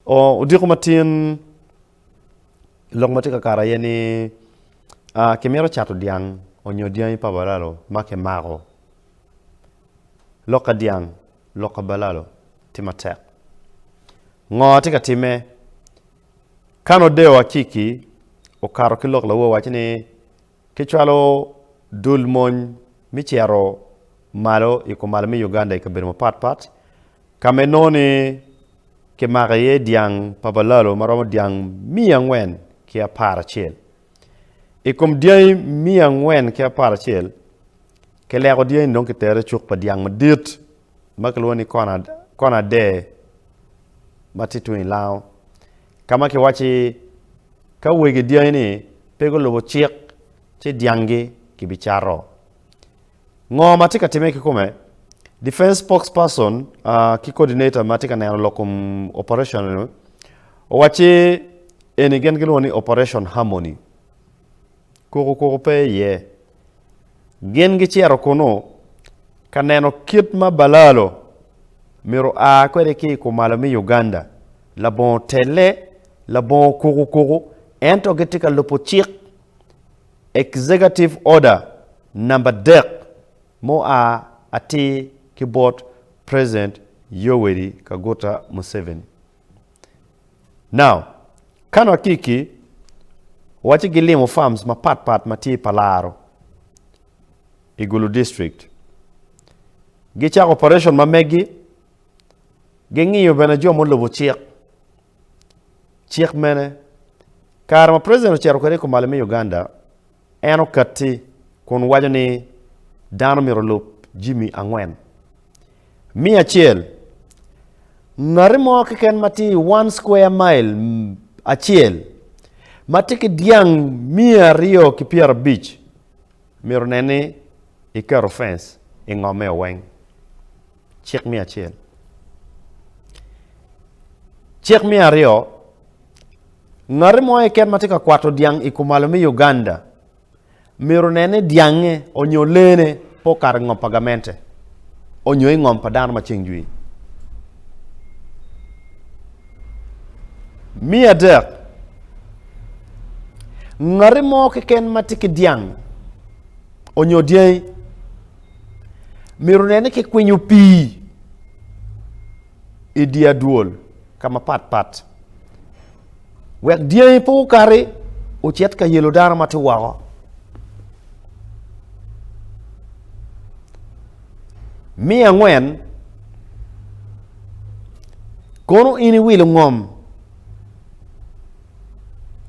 Odiko matin, lok ma tye ka kato aye ni kimito cato dyang onyo dyangi pa balalo ma kimako lok ka dyang lok ka balalo tye matek. Ngo tye ka timme? Ka nongo Deo Akiki okato ki lok lawo owaco ni Kicwalo dul mony me cito malo i kumalo me Uganda i kabedo mapat pat ka ma inongo ni kimako iye dyang pa balalo ma romo dyang miya angwen ki apar acel. I kom dyangi miya angwen ki apar acel, kileko dyangi-ni dong kitero i cuk pa dyang madit ma kilwongo ni kona ade ma tye tung i lango ka ma kiwacci ka wegi dyangi ni pe gulubo cik ci dyangi kibicato. Ngo ma tye ka timme ki kome? Defense spokesperson ki coordinator ma tye ka neno lok kom operation ni owacci eni gin gilwongo ni Operation Harmony. Koko koko pe iye. Gin gicito kunnu ka neno kit ma Balalo myero a kwede ki i kumalo me Uganda, labongo telle, labongo kukukuku, ento gitye ka lubo cik, Executive Order, namba dek mua atir ki bot President Yoweri Kaguta Museveni. Now, ka nwa kiki waci gilimo farms mapat pat ma tye i Palaro i Gulu District, gicako operation ma megi, gingiyo bene jo mulubo cik. Cik mene? Kare ma President ocito kwede i Kumalo me Uganda, En okatti kun waco ni dano myero olub jami angwen. Me acel, ngati mo keken ma tye i one square mile acel ma tye ki dyang miya aryo ki pyerabic myero nen ni iketo fence i ngomeo weng. Cik me acel. Cik me aryo. Ngati mo keken ma tye ka kwato dyang i kumalo me Uganda myero onen ni dyange onyo leene pe okato i ngom pa gamente onyo i ngom pa dano ma ceng jwi. Me adek, ngati mo keken ma tye ki dyang onyo dyangi myero onen ni kikwinyo pii i dye adwol ka mapat pat wek dyangi pe okati ocit ka yelo dano ma tye woko. Miya angwen, kono in iwilo ngom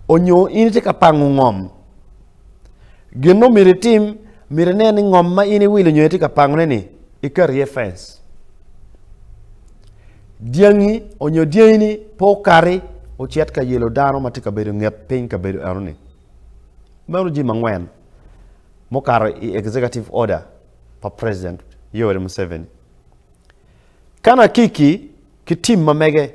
onyo in itye ka pango ngom gin ma myero itim myero inen ni ngom ma in iwilo nyo itye ka pangone ni ikati iye fence dyangi onyo dyangini pe okati ocit ka yelo dano ma tye ka bedo i nget piny kabedo eno-ni. Meno jami angwen mukato i executive order pa President Yoweri Museveni. Kan Akiki ki tim ma mege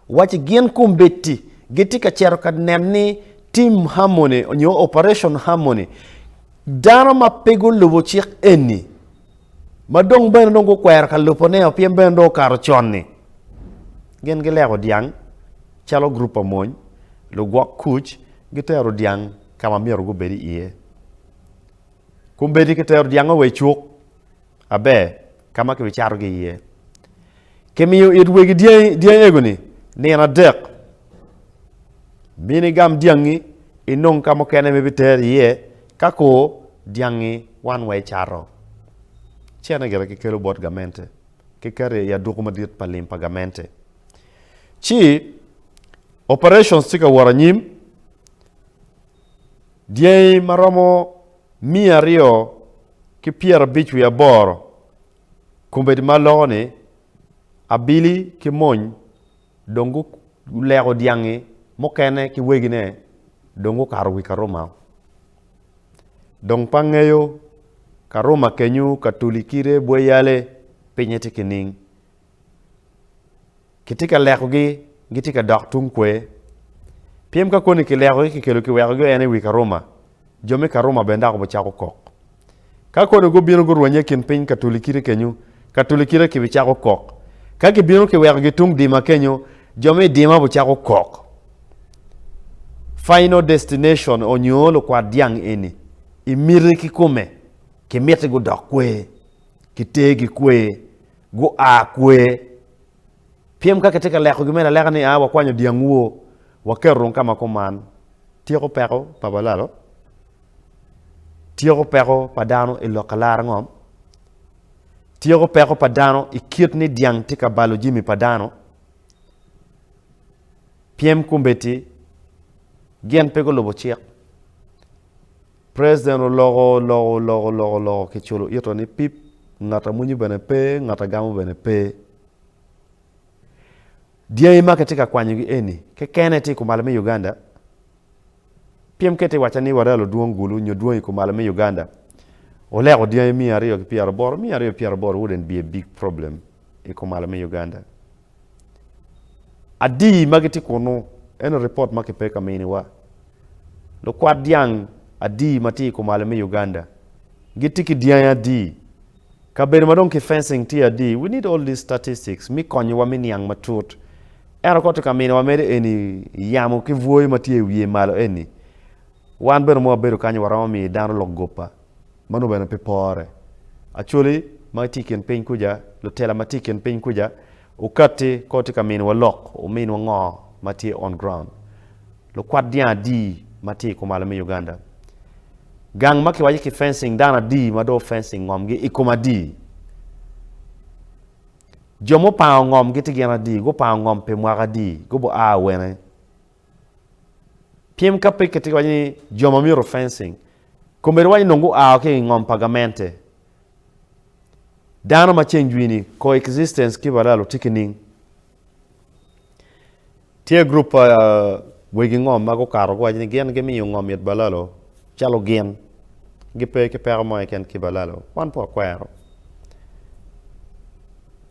wacci gin kombeddi gitye ka cito ka nen ni Tim Harmony onyo Operation Harmony dano ma pe gulubo cik eni ma dong bene dong gukwero ka lubo ne o pien bene dong okato con ni gin gileko dyang calo gurup pa mony lugwok kuc gitero dyang ka ma myero gubed iye kun bedi kitero dyang o wa icuk aber ka ma kibicato gi iye kimiyo it wegi dyang ego ni nino adek mini gam dyangi inong ka mukene ma ibiter iye Ka kor dyangi wan wa ecato, cene gire kikelo bot gamente, kiketo i aduku madit pa lim pa gamente. Ci operations tye ka wot anyim, dyangi ma romo miya aryo ki pyerabic wiye aboro kombeddi ma loko ni abili ki mony dong guleko dyangi mukene ki wegine dong gukato wi Karuma. Dong pa ngeyo, Karuma kenyu ka tuli kite bwe yale, pinye tye kining. Kitye ka lekogi, gitye ka dok tung kwe. Pyem ka koni kilekogi kikelo kiwekogi ene i wi Karuma, Jo me Karuma bene dok obicako kok. Ka kodi gubino gurwenye i kin piny Katulikite kenyu, Katulikite kibicako kok. Ka kibino kiwekogi tung dima kenyu, jo me i dima obicako kok. Final Destination onyo Lukwat Dyang eni, i miti ki kome, kimiti gudok kwer, kiter gi kwer, gua kwer, Pyem ka kitye ka lekogi me laleka ni a wakwanyo dyang woo, waketo rung ka ma kuman. Tyeko peko pa balalo tyeko peko pa dano i lok alara ngom, tyeko peko pa dano i kit ni dyang tye ka balo jimi pa dano. Pyem kombeddi gin pe gulubo cik. President oloko oloko oloko oloko oloko ki culo ito ni pip ngat a mwinyo bene pe ngat a gamo bene pe. Dyangi ma kitye ka kwanyo gi eni kekene tye i kumalo me Uganda. Piem kit i waca ni warel odwong gulu nyo dwong i kumalo me Uganda oleko dyangi miya aryo ki pyero aboro miya aryo pyero aboro wouldn't be a big problem i kumalo me Uganda. Adi ma gitye kunnu? Eno ripot ma kipe ka miniwa. Lukwat dyang adi ma tye i kumalo me Uganda? Gitye ki dyangi adi? Kabedo ma dong ki fencing tye adi? We need all these statistics mi konyowa mi niang matut. Ento ka tye ka miniwa medo eni yamo ki bwoyo ma tye i wiye malo eni, wan bene mo wabedo kany waromo miyo dano lok goppa. ma nongo bene pe pore. Acholi ma gitye i kin piny kuca, lutela ma tye i kin piny kuca, wukatti kong wutye ka miniwa lok, wuminwa ngo ma tye on ground. Lukwat dyang adi ma tye i kom ala me Uganda? Gang ma kiwaco ki fencing dano adi ma dong fencing ngomgi i kom adi? Jo mupango ngom gitye gin adi? Gupango ngom pi mwaka adi? Gubua wene? Piem ka pe kitye ka waco ni jo ma myero fencing, kombeddi waco ni nongo gua wa ki i ngom pa gamente. Dano ma ceng jwi-ni, coexistence ki balal otye ki ning? Tye gurup pa wegi ngom ma gukato guwaco ni gin gimiyo ngom mit balalo calo gin, gipe ki peko mo keken ki balalo. Wan pe wakwero.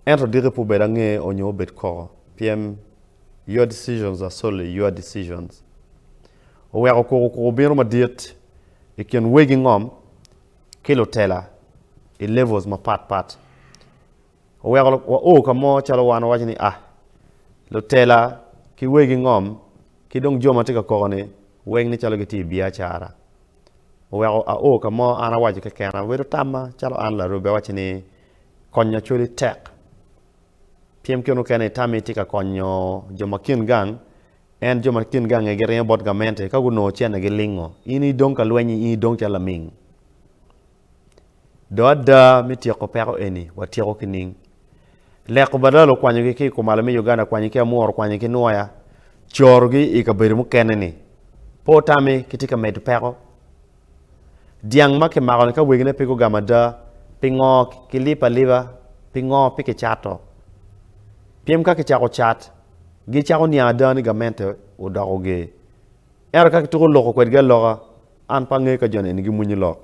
Ento diki pe obed ange onyo obed koko. Pyem. Your decisions are solely your decisions. Oweko kuku kuku bino madit i kin wegi ngom ki lutela i levels mapat pat. Oweko wa o ka mo calo wan wawaco ni ah lutela ki wegi ngom ki dong jo ma tye ka koko ni weng ni calo gitye i biacara. Oweko a o ka mo an awaco kekena bedo tamma calo an larube awaco ni konyo cwali tek. Pyem kene okene i tammi tye ka konyo jo ma kin gang, ento jo ma kin gangi giringo bot gamente ka gunongo cente gilingo. In idong ka lweny-nyi, in idong calo laming. Dong ada me tyeko peko eni watyeko ki ning. Leko badala okwanyogi ki i kumalo me Uganda kwanyi ki Amworo kwanyi ki Nwoya, corogi i kabedo mukene-ni. Pe otami, kitye ka medo peko. Dyang ma kimako-ni ka wegine pe gugamo ada, pingo kilipo alipa? Pingo pe kicato? Pien ka kicako cat, gicako niang ada ni gamente odoko ger. Ento ka kituko loko kwedgi aloka, an pe angeyo ka joni eni gimwonyo lok.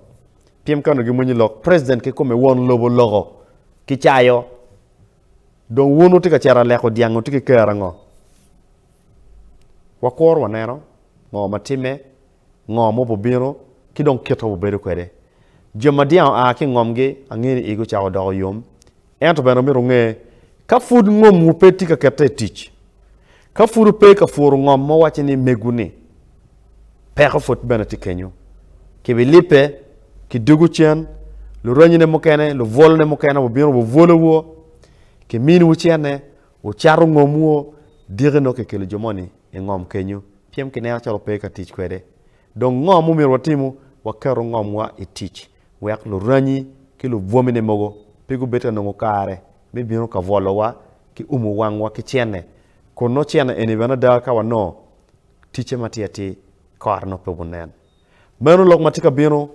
Pien ka onongo gimwonyo lok, President kikome won lobo loko ki cayo. Dong wun wutye ka cito aleko dyang wutye ki kero ango? Wakuru waneno ngo ma timme ngo ma wubibino ki dong kit ma wubedo kwede. Jo ma dyang oa ki i ngomgi, angeyo ni igi ocako doko yom. Ento bene omyero wunge, ka pud ngomwu pe tye ka kette i tic, ka pud wupe ka pworo ngom ma wuwacci ni megwu-ni, peko pud bene tye kenyo. Kibilibbe, kidwogo cen, luranyine mukene, lubwolone mukene bibino bibwolowu, kiminiwu cene, Wucato ngomwu o, dyeke nongo kikelo jo moni i ngom kenyu, pien kineno calo pe ka tic kwede. Dong ngo mumyero watimu? Waketu ngomwa i tic, wek luranyi ki lubwomine mogo pe gubed ka nongo kare me bino ka bwolowa ki umo wangwa ki cene, kun nongo cene eni bene ada ka wanongo ticce ma atir atir i kore nongo pe wunen. Meno lok ma tye ka bino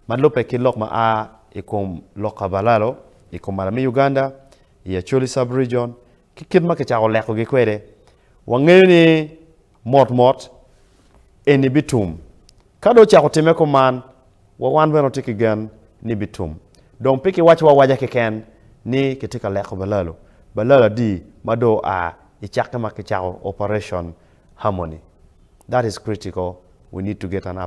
ma lubbe ki lok ma a i kom lok kabalalo i kom Malami Uganda i Acholi Sub-Region ki kit ma kicako lekogi kwede. Wangeyo ni mot mot eni bitum. Ka dong ocako timme kuman, wa wan bene watye ki gen ni bitum. Dong pe kiwaco awaca keken ni kitye ka leko balalo, balalo adi ma dong oa i cakke ma kicako Operation Harmony. That is critical, we need to get an update.